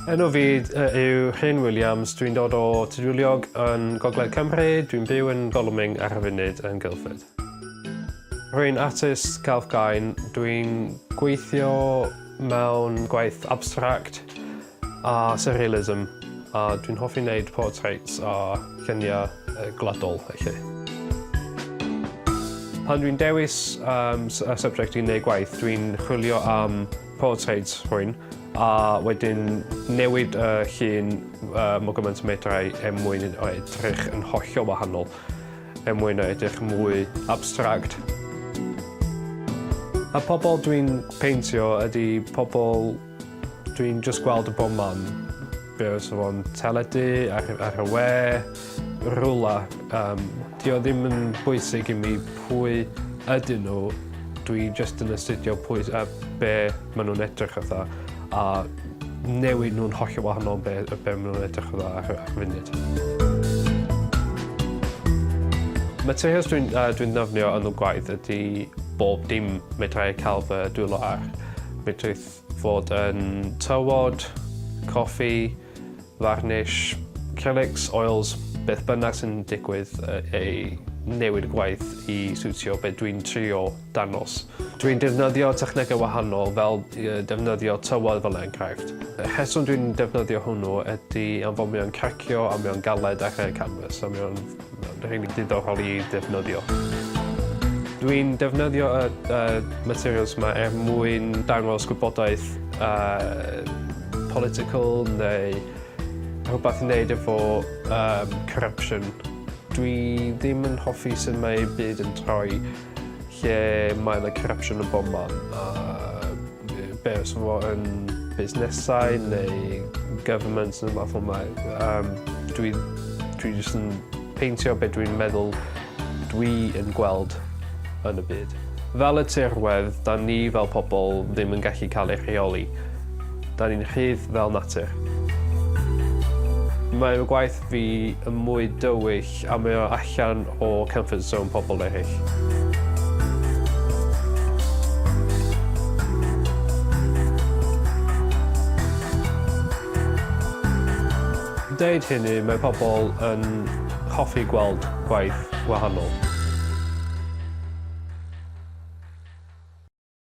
Enw fi yw Rhyn Williams, dwi'n dod o Tudwiliog yn Gogledd Cymru, dwi'n byw yn Golwming ar y funud yn Guildford. Rwy'n artist celf gain, dwi'n gweithio mewn gwaith abstract A surrealism, a dwi'n hoffi neud portraits a lluniau gwladol felly. Pan dwi'n dewis subject i neud gwaith dwi'n chwilio am portraits rhywun a wedyn newid y llun mor gymaint â medrai er mwyn o edrych yn hollol wahanol, er mwyn o edrych yn mwy abstract. Y pobl dwi'n peintio ydy pobl Dwi'n jyst gweld o bob man. Be' os odd o'n teledu ar y ar y we rwla yym 'di o ddim yn bwysig i mi pwy ydyn n'w dwi jyst yn astudio pwy s- yy be' ma' nw'n edrych fatha a newid nw'n hollol wahanol be' yy be' ma' nw'n edrych fel ar y funud. Materials dwi'n yy dwi'n ddefnio yn y gwaith ydi bob dim medrai ca'l fy dwylo ar. Medrith fod yn tywod, coffi, farnish, acrylics, oils, beth bynnag sy'n digwydd ei newid y gwaith i siwtio be dwi'n trio dangos. Dwi'n defnyddio technegau wahanol fel defnyddio tywod fel enghraifft. Y rheswm dwi'n defnyddio hwnnw ydy am fod mewn cracio a mewn galed ar y canfas a mewn rili diddorol i ddefnyddio. Dwi'n defnyddio y materials yma er mwyn dangos gwybodaeth political neu rhywbeth i wneud efo corruption. Dwi ddim yn hoffi sut mae ei byd yn troi. Lle mae yna corruption yn bob man a be' os fo yn busnesau neu governments ne' wbath fel 'na yym dwi dwi jyst yn peintio be' dwi'n meddwl dwi yn gweld yn y byd. Fel y tirwedd 'dan ni fel pobol ddim yn gallu ca'l ei rheoli. 'Dan ni'n rhydd fel natur. Mae fy gwaith fi yn mwy dywyll a mae o allan o comfort zone pobl eraill. deud hynny, mae pobl yn hoffi gweld gwaith wahanol.